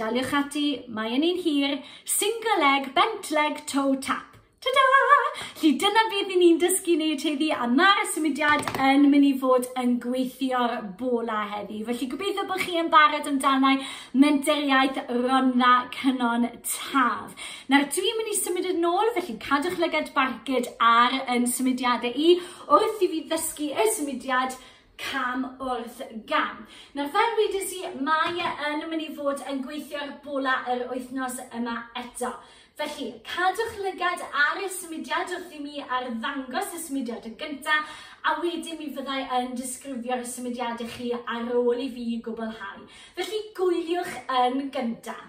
Daliwch ati, mae yn un hir, single leg, bent leg, toe tap. Ta-da! Lly dyna beth i ni'n dysgu neud heddi a mae'r symudiad yn mynd i fod yn gweithio'r bola heddi. Felly gobeithio bod chi yn barod amdanau menteriaeth Rhondda Cynon Taf. Nawr dwi'n mynd i symud yn ôl, felly cadwch lygad barcud ar yn symudiadau i wrth i fi ddysgu y symudiad cam wrth gam. Nawr fel wedys i, mae e yn mynd i fod yn gweithio'r bola yr wythnos yma eto. Felly, cadwch lygad ar y symudiad wrth i mi ar ddangos y symudiad yn gyntaf, a wedyn mi fyddai yn disgrifio'r symudiad i chi ar ôl i fi gwblhau. Felly gwyliwch yn gyntaf.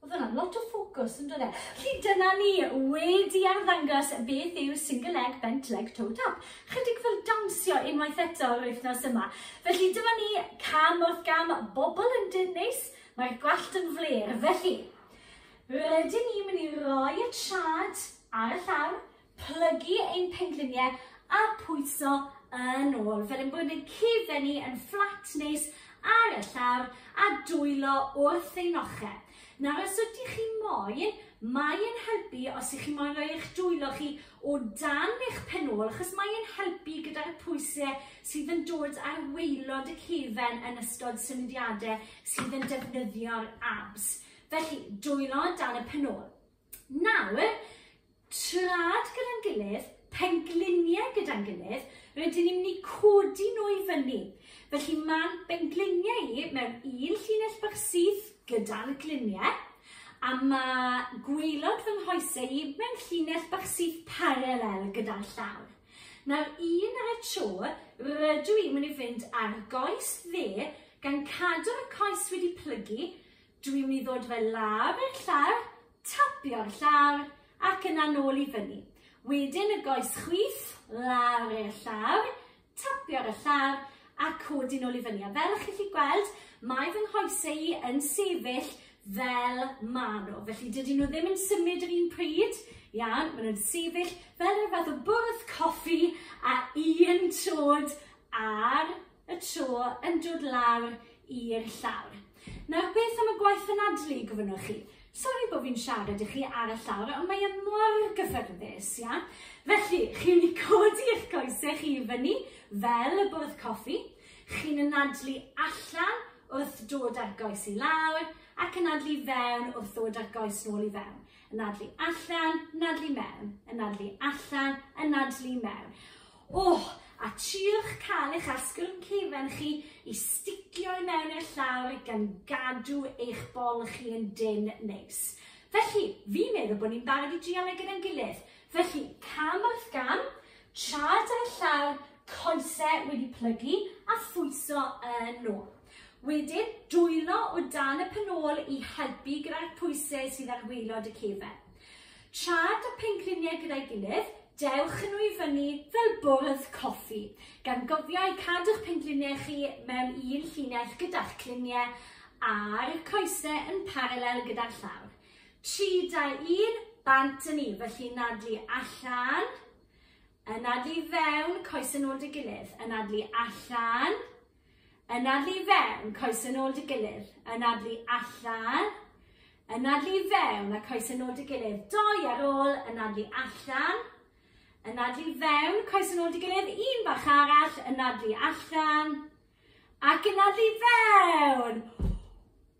Oedd yna lot o ffocws yn dod e. Felly dyna ni wedi arddangos beth yw single leg bent leg toe tap. Chydig fel dawnsio unwaith eto yr wythnos yma. Felly dyma ni cam wrth gam bobl yn dyn neis, mae'r gwallt yn fler. Felly, rydyn ni mynd i roi y trad ar y llawr, plygu ein pengliniau a pwyso yn ôl, fel ein bod yn cifennu yn fflat neis ar y llawr a dwylo wrth ein ochr. Nawr os ydych chi moyn, mae yn helpu os ych chi moyn rhoi eich dwylo chi o dan eich pen ôl, achos mae yn helpu gyda'r pwysau sydd yn dod ar weilod y cefen yn ystod symudiadau sydd yn defnyddio'r abs. Felly, dwylo dan y pen ôl. Nawr, trad gyda'n gilydd, pengliniau gyda'n gilydd, rydyn ni'n mynd i codi nhw i fyny. Felly mae'n bengliniau i mewn un llinell bach syth gyda'n gliniau, a mae gwylod fy nghoesau i mewn llinell bach syth paralel gyda'n llaw. Nawr, un ar y tro, rydw i'n mynd i fynd ar goes dde gan cadw'r coes wedi plygu, Dw i'n mynd i ddod fe lawr i'r llawr, tapio'r llawr, ac yna nôl i fyny. Wedyn y goes chwith, lawr i'r llawr, tapio'r y llawr, a codi nôl i fyny. A fel ych chi'n gweld, mae fy nghoesau i yn sefyll fel maen nhw. Felly dydyn nhw ddim yn symud yr un pryd, iawn, maen nhw'n sefyll fel rhyw fath o bwrdd coffi a un trod ar y tro yn dod lawr i'r llawr. Nawr beth am y gwaith anadlu gofynnwch chi? Sori bod fi'n siarad i chi ar y llawr, ond mae e mor gyffyrddus, ia? Felly, chi'n mynd i codi eich coesau chi i fyny fel y bwrdd coffi, chi'n anadlu allan wrth dod â'r goes i lawr ac anadlu fewn wrth ddod â'r goes nôl i fewn. Anadlu allan, anadlu mewn, anadlu allan, anadlu mewn. Ohh! A triwch cael eich asgwrn cefn chi i sticio i mewn i'r llawr gan gadw eich bol chi yn dynn neis. Felly, fi'n meddwl bod ni'n barod i drial e gyda'n gilydd. Felly, cam wrth gam, traed ar y llawr, coese wedi plygu a phwyso yn ôl. Wedyn, dwylo o dan y pen ôl i helpu gyda'r pwysau sydd ar waelod y cefn. Traed a phengliniau gyda'i gilydd, dewch nhw i fyny fel bwrdd coffi, gan gofio eu cadw'ch pengliniau chi mewn un llinell gyda'ch cliniau a'r coesau yn paralel gyda'r llawr. 3-2-1, bant â ni, felly nadlu allan, yn nadlu i fewn, coesau nôl 'da gilydd, yn nadlu allan, Anadlu i fewn, coes yn ôl dy gilydd. Anadlu allan. Anadlu i fewn a coes yn ôl dy gilydd. Doi ar ôl, anadlu allan. Anadlu i fewn, coes yn ôl dy gilydd. Un bach arall, anadlu allan. Ac anadlu i fewn.